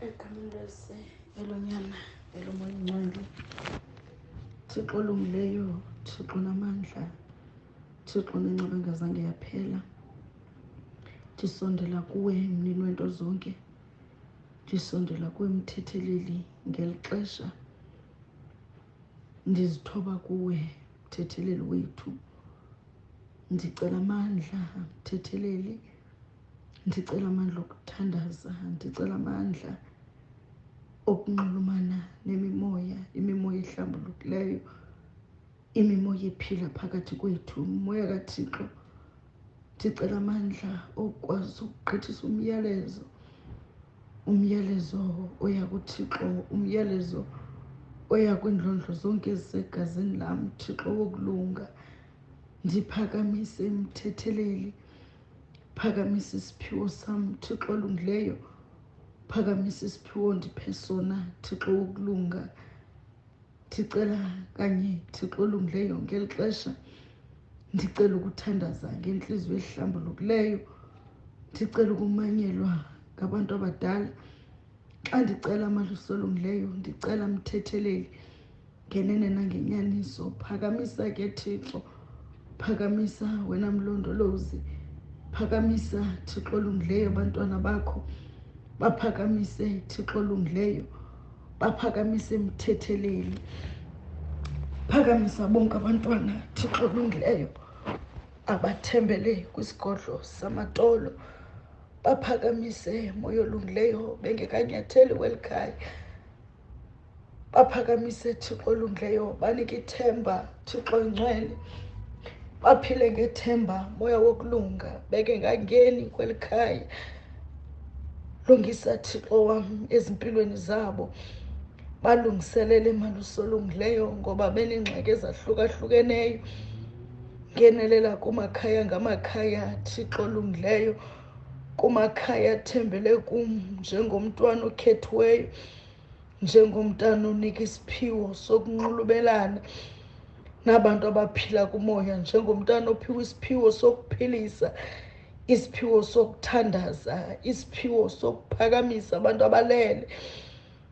egamlese elonyana elomoya ingcwele thixo olungileyo thixo namandla thixo nenceba engazange yaphela ndisondela kuwe mnini wento zonke ndisondela kuwe mthetheleli ngeli xesha ndizithoba kuwe mthetheleli wethu ndicela amandla mthetheleli ndicela amandla okuthandaza ndicela amandla okunxulumana nemimoya imimoya ehlambulukileyo imimoya ephila phakathi kwethu umoya kathixo ndicela amandla okwazi ukugqithisa umyalezo umyalezo oya kuthixo umyalezo oya kwiindlondlo zonke ezisegazini lam thixo wokulunga ndiphakamise mthetheleli phakamisa isiphiwo sam thixo olungileyo phakamisa isiphiwo ndiphe sona thixo wokulunga ndicela kanye thixo olungileyo ngeli xesha ndicela ukuthandaza ngentliziyo ehlambulukileyo ndicela ukumanyelwa ngabantu abadala xa ndicela amalusi olungileyo ndicela mthetheleli ngenene nangenyaniso phakamisa ke thixo phakamisa wena mlondolozi phakamisa thixo olungileyo abantwana bakho baphakamise thixo olungileyo baphakamise mthetheleli phakamisa bonke abantwana thixo olungileyo abathembele kwisigodlo samatolo baphakamise moya olungileyo bengekanyatheli kweli khaya baphakamise thixo olungileyo banike ithemba thixo incwele baphile ngethemba moya wokulunga bengengangeni kweli khaya lungisa thixo wam ezimpilweni zabo balungiselele malusolungileyo ngoba benengxaki ezahlukahlukeneyo ngenelela kumakhaya ngamakhaya thixo olungileyo kumakhaya athembele kum njengomntwana okhethiweyo njengomntana onika isiphiwo sokunxulubelana nabantu abaphila kumoya njengomntana ophiwa isiphiwo sokuphilisa isiphiwo sokuthandaza isiphiwo sokuphakamisa abantu abalele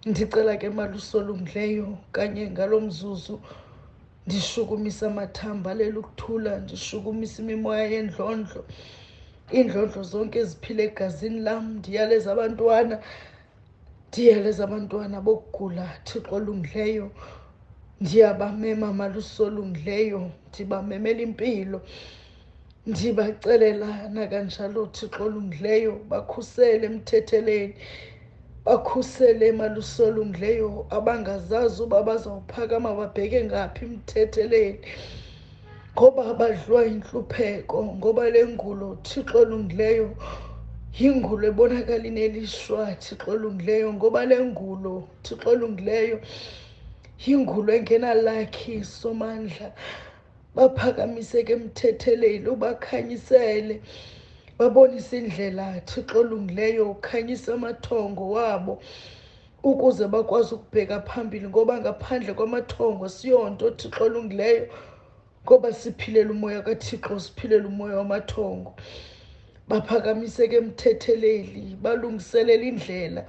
ndicela ke malusolungileyo kanye ngalo mzuzu ndishukumisa amathambo alele ukuthula ndishukumisa imimoya yendlondlo iindlondlo zonke eziphila egazini lam ndiyaleza abantwana ndiyaleza abantwana bokugula thixo olungileyo ndiyabamema malusolungileyo ndibamemela impilo ndibacelelana kanjalo thixo olungileyo bakhusele emthetheleni bakhusele emalusi olungileyo abangazazi uba bazawuphakama babheke ngaphi emthetheleni ngoba badliwa yintlupheko ngoba le ngulo thixo olungileyo yingulo ebonakala inelishwa thixo olungileyo ngoba le ngulo thixo olungileyo yingulo engenalakhi somandla baphakamiseke emthetheleni ubakhanyisele babonise indlela thixo olungileyo ukhanyisa amathongo wabo ukuze bakwazi ukubheka phambili ngoba ngaphandle kwamathongo siyonto thixo olungileyo ngoba siphilela umoya kathixo siphilela umoya wamathongo baphakamiseke emthetheleli balungiselela indlela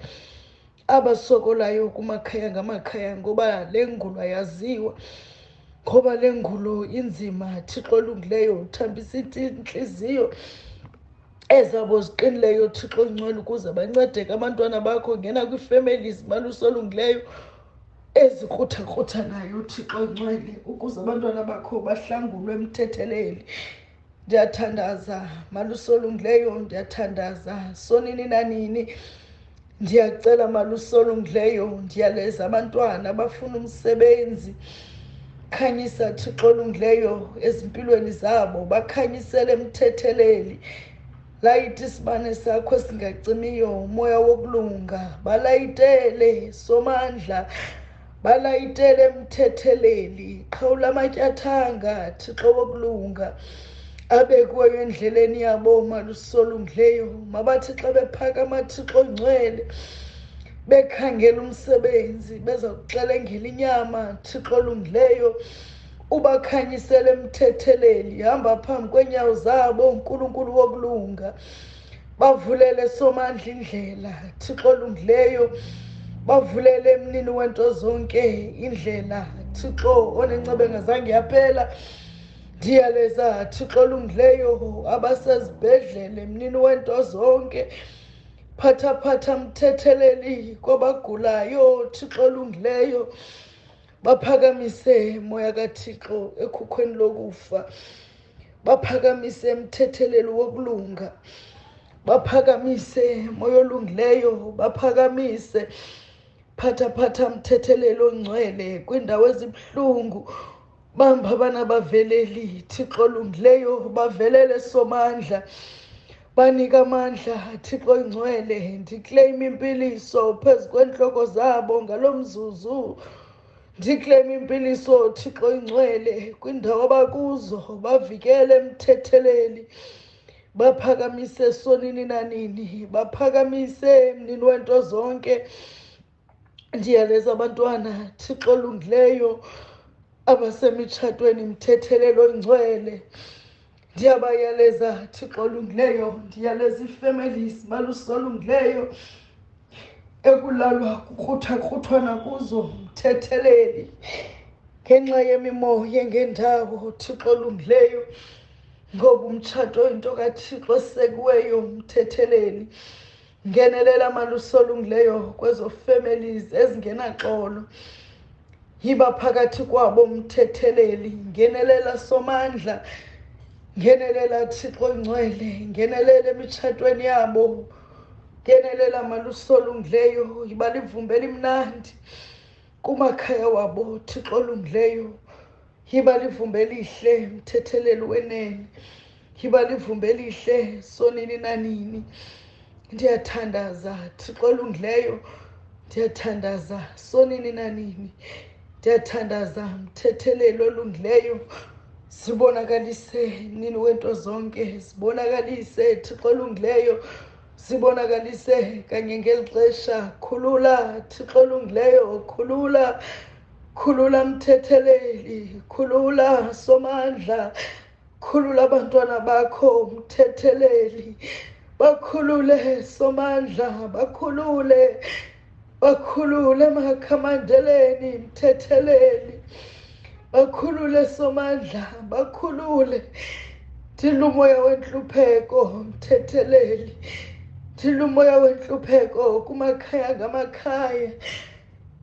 abasokolayo kumakhaya ngamakhaya ngoba le ngulo ayaziwa ngoba le ngulo inzima thixo olungileyo uthambisa intliziyo ezabo ziqinileyo thixo ongcwele ukuze bancedeke abantwana bakho ngena kwiifemeli zimalusi olungileyo ezikruthakrutha nayo thixo ongcwele ukuze abantwana bakho bahlangulwe emthetheleli ndiyathandaza malusolungileyo ndiyathandaza sonini nanini ndiyacela malusolungileyo ndiyaleza abantwana abafuna umsebenzi khanyisa thixo olungileyo ezimpilweni zabo bakhanyisele mthetheleli layite isibane sakho singacimiyo umoya wokulunga balayitele somandla balayitele emthetheleli qhawula amatyathanga thixo wokulunga abekuweyo endleleni yabo malusolungileyo mabathi xa bephakama thixo ngcwele bekhangela umsebenzi beza kuxelengela inyama thixo olungileyo ubakhanyisele emthetheleli hamba phambi kweenyawo zabo unkulunkulu wokulunga bavulele somandla indlela thixo olungileyo bavulele emnini wento zonke indlela thixo onencebe ngazange yaphela ndiyaleza thixo olungileyo abasezibhedlele emnini wento zonke phathaphatha mthetheleli kwabagulayo thixo olungileyo baphakamise moya kathixo ekhukhweni lokufa baphakamise emthetheleli wokulunga baphakamise moya olungileyo baphakamise phatha phatha mthetheleli ongcwele kwiindawo ezibuhlungu bamba abana baveleli thixo olungileyo bavelele somandla Banika amandla, Thixo ingcwele, ndikleyima impiliso phezu kweentloko zabo ngalo mzuzu. Ndikleyima impiliso, Thixo ingcwele, kwindawo abakuzo, bavikele emthetheleni. Baphakamise sonini nanini, baphakamise mnini wento zonke. ndiyaleza abantwana thixo olungileyo abasemitshatweni mthethelelo ingcwele ndiyabayaleza thixo olungileyo ndiyaleza ii-families balusolungileyo ekulalwa kukruthakrutwana kuzo mthetheleli ngenxa yemimoya ngendawo thixo olungileyo ngoba umtshato into kathixo osekiweyo mthetheleli ngenelela maluso olungileyo kwezo families ezingenaxolo yiba phakathi kwabo mthetheleli ngenelela somandla ngenelela thixo ongcwele ngenelela emitshatweni yabo ngenelela maluso olungileyo yiba livumba elimnandi kumakhaya wabo thixo olungileyo yiba livumba elihle mthetheleli wenene yiba livumba elihle sonini nanini ndiyathandaza thixo olungileyo ndiyathandaza sonini nanini ndiyathandaza mthetheleli olungileyo sibonakalise nini wento zonke sibonakalise thixo olungileyo sibonakalise kanye ngeli xesha khulula thixo olungileyo khulula khulula mthetheleli khulula somandla khulula abantwana bakho mthetheleli bakhulule somandla bakhulule bakhulule makhamandeleni mthetheleli bakhulule somandla bakhulule thilumoya wentlupheko mthetheleli thilumoya wentlupheko kumakhaya ngamakhaya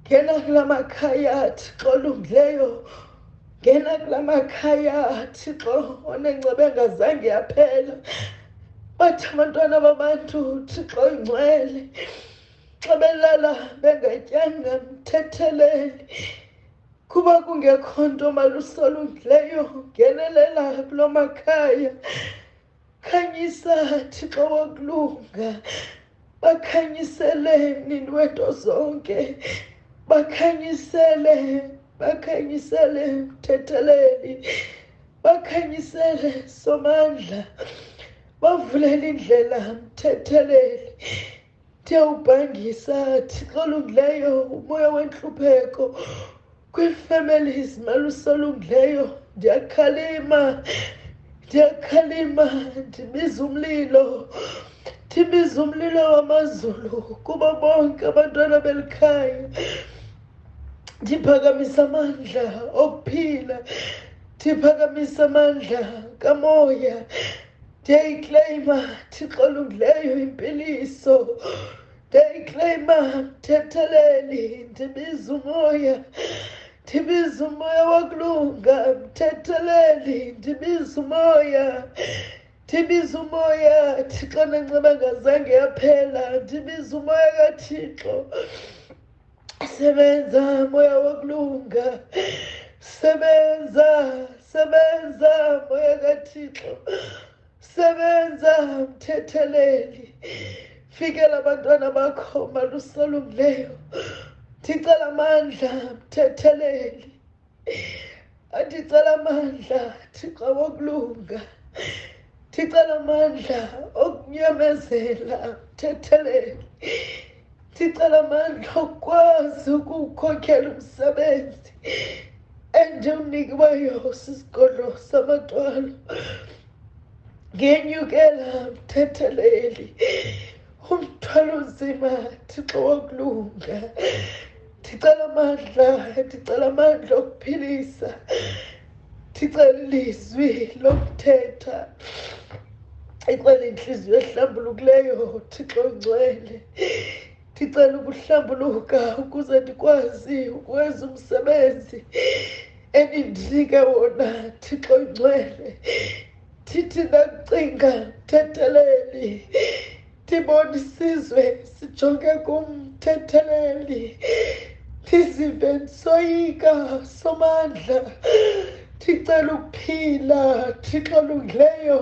ngena kula makhaya thixo olungileyo ngena kula makhaya thixo onengceba engazange yaphela bathi abantwana babantu thixo ingcwele xa belala bengatyanga mthetheleli kuba kungekho nto malusolungileyo ngenelela kulo makhaya khanyisa thixo wokulunga bakhanyisele mnini wento zonke bakhanyisele bakhanyisele mthetheleli bakhanyisele somandla bavulele indlela mthetheleli ndiyawubhangisa thixo olungileyo umoya wentlupheko kwii-families malusi olungileyo ndiyakhalima ndiyakhalima ndibiza umlilo ndibiza umlilo wamazulu kubo bonke abantwana beli khaya ndiphakamisa amandla okuphila ndiphakamisa amandla kamoya ndiyayikleyima thixo olungileyo impiliso ndiyayikleyima mthetheleli ndibiza umoya ndibiza umoya wokulunga mthetheleli ndibiza umoya ndibiza umoya thixo nenceba ngazange yaphela ndibiza umoya kathixo Sebenza moya wokulunga, sebenza, sebenza moya kaThixo, sebenza mthetheleli, fikela abantwana bakho malusolungileyo, ndicela amandla mthetheleli. andicela amandla thixo wokulunga ndicela amandla okunyamezela uthethelele ndicela amandla okukwazi ukuwukhokhela umsebenzi endiwunikiweyo sisigodlo samathwalo ngenyukela mthetheleli umthwalo nzima thixo wokulunga ndicela amandla ndicela amandla okuphilisa ndicela ilizwi lokuthetha icela intliziyo ehlambulukileyo thixo ngcwele ndicela ukuhlambuluka ukuze ndikwazi ukwenza umsebenzi enindinike wona thixo ngcwele thithi ndakucinga mthetheleli ndibona isizwe sijonge kumthetheleli ndizive ndisoyika somandla ndicela ukuphila thixo olungileyo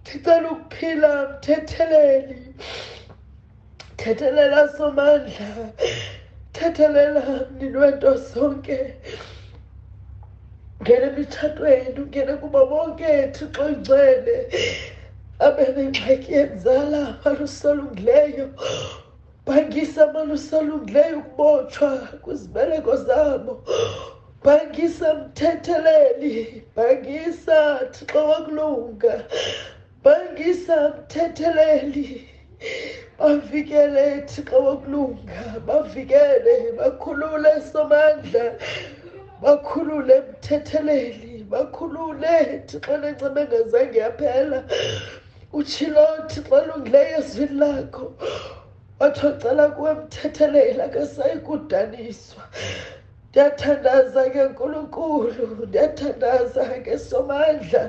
ndicela ukuphila mthetheleli thethelela somandla thethelela mnini wento zonke ngena emitshatweni ungene kuba bonke thixo oyingcwele abe nengxaki yenzala amalusa alungileyo bhangisa amalusa alungileyo ukubotshwa kwizibeleko zabo bhangisa mthetheleli bhangisa thixo wakulunga bangisa mthetheleli bavikele thixo wokulunga bavikele bakhulule somandla bakhulule mthetheleli bakhulule thixo lencema engazange yaphela utshilo thixo olungileyo ezwini lakho wathi ocela kuwe mthethelela akasayi kudaniswa ndiyathandaza ke nkulunkulu ndiyathandaza ke somandla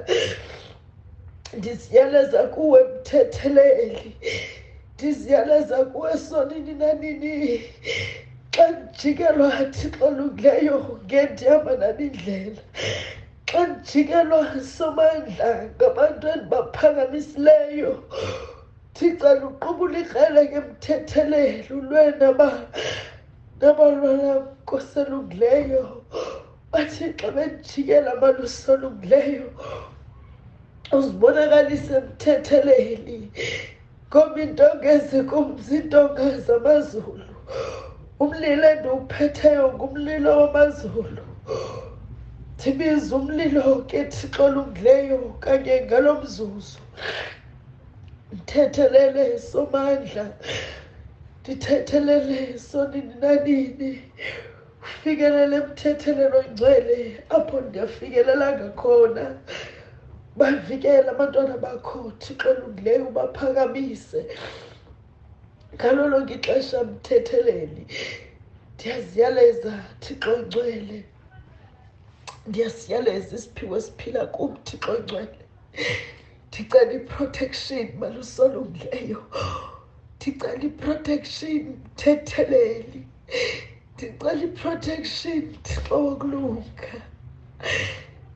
ndiziyaleza kuwe mthetheleli ndiziyaleza kuwe sonini nanini xa ndijikelwa thixo olungileyo ngendihamba nami indlela xa ndijikelwa somandla ngabantu endibaphakamisileyo thixo luqubula ikrele ke mthetheleli ulwena ba Ngabalwala koselungileyo bathi xa bendijikela malusolungileyo uzibonakalise emthetheleni ngoba into ngezi kumzi into ngazi amazulu umlilo endiwuphetheyo ngumlilo wamazulu ndibiza umlilo ke thixo olungileyo kanye ngalo mzuzu ndithethelele somandla ndithethelele sonini nanini ufikelele emthethelelo ngcwele apho ndiyafikelelanga khona bavikele abantwana bakho thixo olungileyo ubaphakamise ngalo lonke ixesha mthetheleni ndiyaziyaleza thixo ngcwele ndiyasiyaleza isiphiwo esiphila kum thixo ngcwele ndicela iprotection malusolungileyo ndicela iprotection mthetheleli ndicela iprotection thixo wokulunga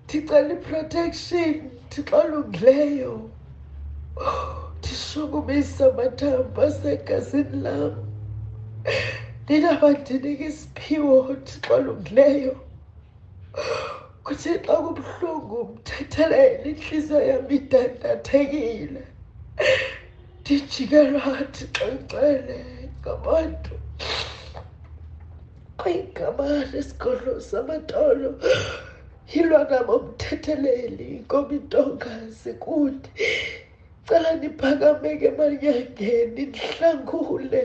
ndicela iprotection thixo olungileyo ndishukumisa amathambo asegazini lam ndinabandinike isiphiwo thixo olungileyo kuthi xa kubuhlungu mthethelele intliziyo yam idandathekile ndijikelwa ndixoxele ngabantu kwigama lesigodlo samatolo yilona bomthetheleli komitonga zikude cela ndiphakameke manyangeni ndihlangule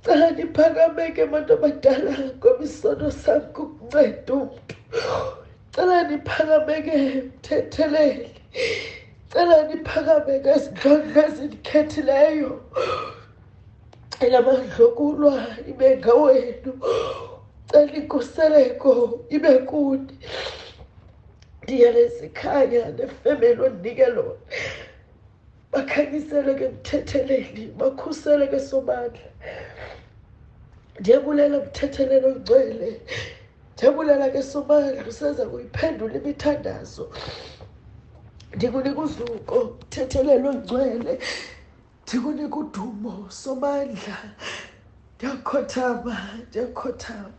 cela ndiphakameke bantu abadala ngoba isono sam kukunceda umntu cela ndiphakameke mthetheleli cela ndiphakameke ezintlonto ezindikhethileyo elamandlokulwa ibe ngawenu cela inkuseleko ibe kuni ndiyalezikhanya nefemeli ondinike lona bakhanyiseleke emthetheleni bakhuseleke somandla ndiyabulela mthethelelo ngcwele ndiyabulela ke somandla usenza kuyiphendula imithandazo ndikunika uzuko mthethelelo ngcwele ndikunika udumo somandla ndiyakhothama ndiyakhothama